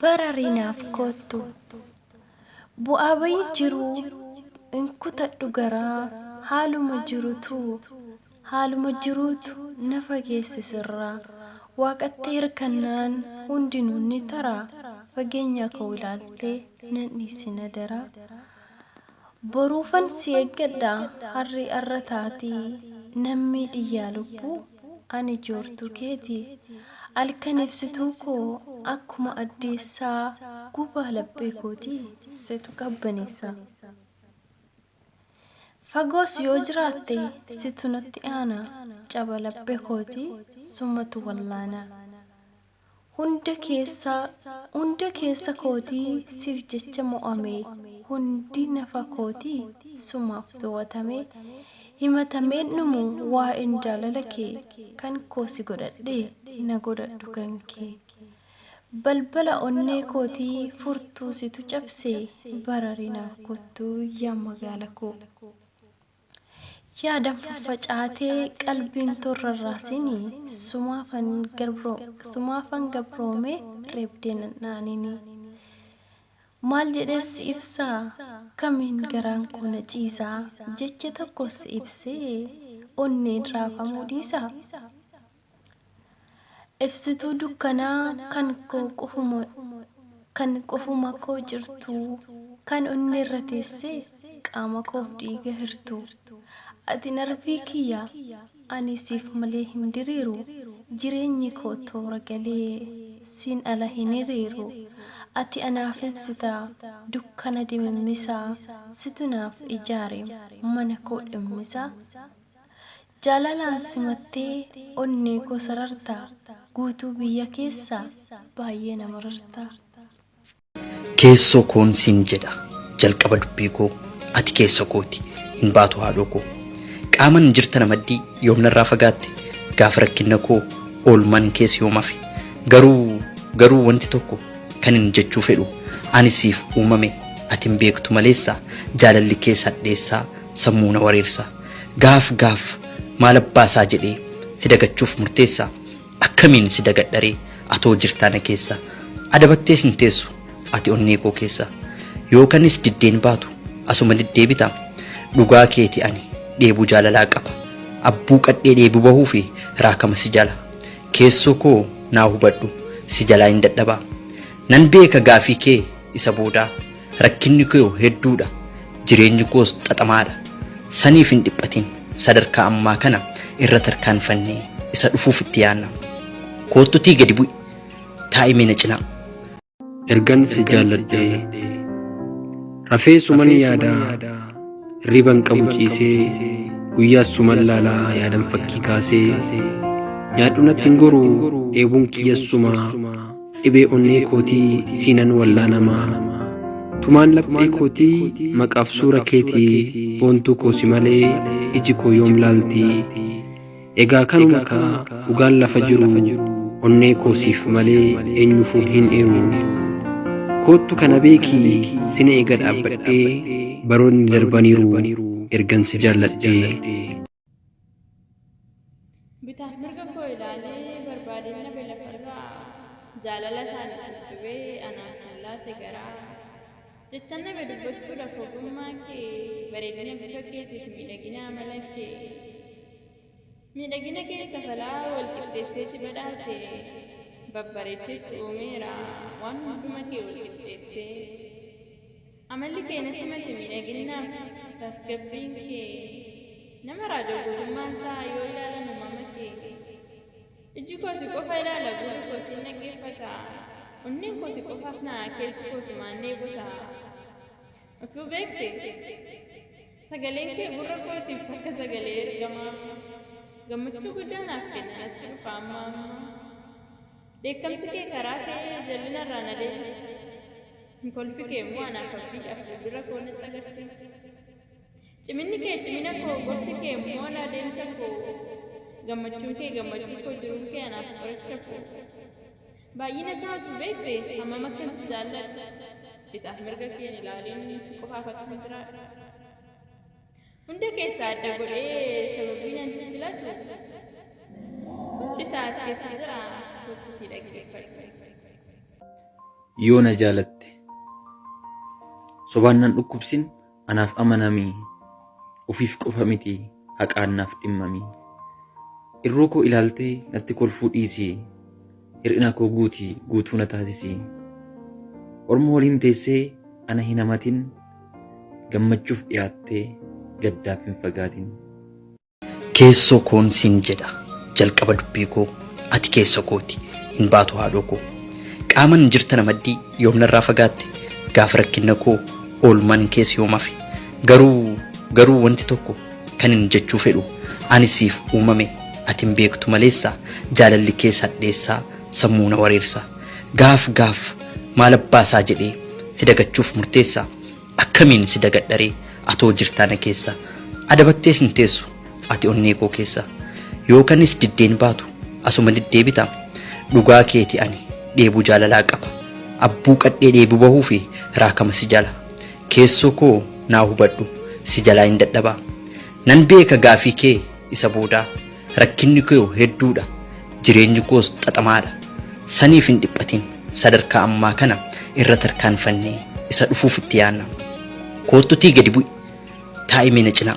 Barari naaf koottu. Bu'aa bayii jiruu hin kutadhu garaa haaluma jirutu haaluma jiruutu na fageesse sirraa waaqatti hirkannaan hundinuu ni taraa fageenyaa koo ilaaltee nan dhiisin adaraa. Boruufan si eggadha harri arra taati nammii dhiyyaa lubbuu ani joortuu keeti alkan ibsituu koo akkuma addeessaa gubaa laphee kooti situ qabbaneessa fagoos yoo jiraatte situ natti aana caba laphee kooti sumatu wallaana. Hunda keessa Hunda keessa kooti sif jecha mo'ame Hundi nafa kooti sumaaf towatame Himatameen dhumu waa'een jaalala kee Kan koo si godhadhe na godhadhu kan kee Balbala onnee kooti furtuu situ cabse Barari naaf kottu yaa magaala koo. Yaadan faffacaatee qalbiin too hin rarraasini Sumaafan sumaafan gabroome reebdee nan dhaanini Maal jedhee si ibsa kamiin garaan koo na ciisa Jecha tokkoon si ibsee onneen raafamuu dhiisa? Ibsituu dukkanaa kan koo qofuma Kan qofuma koo jirtuu Kan onneerra teessee Qaama koof dhiiga hirtuu Ati narvii kiyya Ani siif malee hin diriiru Jireenyi koo toora galee Siin ala hin hiriiru Ati anaaf ibsita Dukkana dimimmisaa Situ naaf ijaare Mana koo dhimmisaa Jaalalaan simattee onnee koo sarartaa Guutuu biyya keessaa baay'ee na marartaa. Keessoo koon siin jedha jalqaba dubbii koo Ati keessa kooti hin baatu haadhoo koo Qaaman jirta na maddii yoom narraa fagaatte Gaafa rakkinna koo oolman kees yoom hafe Garuu garuu wanti tokko kanin jechuu fedhu Ani siif uumame ati hin beektu maleessa Jaalalli kees hadheessaa sammuu na wareersa Gaaf gaaf maal abbaa isaa jedhee si dagachuuf murteessa? Akkamiin si dagadha ree atoo jirtaa na keessa? Adabattees hin teessu ati onnee koo keessa. Yoo kanis diddeen baatu asuma deddeebita. Dhugaa keeti ani dheebuu jaalalaa qaba. Abbuu qadhee dheebuu bahuu fi raakama si jala. Keessoo koo naa hubadhu si jalaa hin dadhaba. Nan beeka gaafii kee isa boodaa. Rakkinni koo hedduudha. Jireenyi koos xaxamaadha. Saniif hin dhiphatin. Sadarkaa ammaa kana irra tarkaanfannee isa dhufuuf itti yaanna. Koottutii gadi bu'i. Taa'i mee na cinaa. Ergan si jaalladhee. Rafee suman yaadaa. Hirriban qabu ciisee. Guyyaas suman laalaa yaadan fakkii kaasee. Nyaadhu natti hin goru dheebuun kiyyas sumaa. Dhibee onnee kootii siinan wallaanamaa Tumaan laphee kootii maqaaf suura keetii Boontuu koo si malee iji koo yoom laaltii Egaa kanuma kaa dhugaan lafa jiru Onnee koo siif malee eenyufuu hin eeru Koottu kana beekii sin eega dhaabbadhee Baroonni darbaniiru ergan si jaalladhee Bitaaf mirga koo ilaalee barbaadinna belafarraa jaalala isaani sussubee anaaf kan laate garaa jechan dhabe dubbachuudhaaf ogummaa kee bareedina bifa keetiif miidhagina amala kee miidhagina keessa falaa wal qixxeessee si badhaase babbareecheessu uumeera waan hunduma kee wal qixxeessee Amalli kee na simate miidhaginnaaf tasgabbiin kee Nama raaja guutummaan isaa yoo ilaalan uumama kee Ijji koo si qofa ilaala gurri koo siin dhaggeeffata Onneen koo si qofaaf na'a keessi koo sumaan dheebota Utuu beekte Sagaleen kee gurra kootiif akka sagalee ergamaa Gammachuu guddaa naaf kenna natti dhufa amma amma Dheekkamsi kee karaa kee jallina irraa na deebisa. Kolfi kee immoo anaaf abdii dha, fuuldura koo natti agarsiisa. Ciminni kee cimina koo, gorsi kee immoo na adeemsa koo. Gammachuun kee gammachuu koo, jiruun kee anaaf qoricha koo. Baay'ina isaa utuu beekte hammam akkan si jaalladhu. Bitaaf mirga kee hin ilaaliin si qofaaf akkan jiraadhu. Hunda keessaa adda godhee sababiin ani si filatu hundi isaa as keessa jira kottuutii dhaggeeffadhu. Yoo na jaalatte sobaan nan dhukkubsin anaaf amanamii ofiif qofa miti haqaan naaf dhimmamii irruu koo ilaaltee natti kolfuu dhiisii Hir'ina koo guuti guutuu na taasisi. Orma waliin teessee ana hin hamatin, gammachuuf dhiyaattee gaddaaf hin fagaatin. Keessoo koon siin jedha jalqaba dubbii koo, ati keessa kooti hin baatu haadhoo koo. Qaaman jirta na maddii yoom narraa fagaatte, gaafa rakkinna koo oolman kees yoom hafe. Garuu garuu wanti tokko Kanin jechuu fedhu ani siif uumame ati hin beektu maleessa jaalalli kees hadheessaa sammuu na wareersa gaaf gaaf maal abbaasaa jedhee si dagachuuf murteessa akkamiin si dagadharee atoo jirtaa na keessa adabattees hin teessu ati onnee koo keessa yoo kanis diddeen baatu asuma deddeebita dhugaa keeti ani dheebuu jaalalaa qaba abbuu qadhee dheebuu bahuu fi raakama si jala Keessoo koo naa hubadhu si jalaa hin dadhaba Nan beeka gaafii kee isa boodaa Rakkinni koo hedduudha jireenyi koos xaxamaadha Saniif hin dhiphatin sadarkaa ammaa kana irra tarkaanfannee Isa dhufuuf itti yaanna Koottutii gadi bu'i taa'imee na cinaa.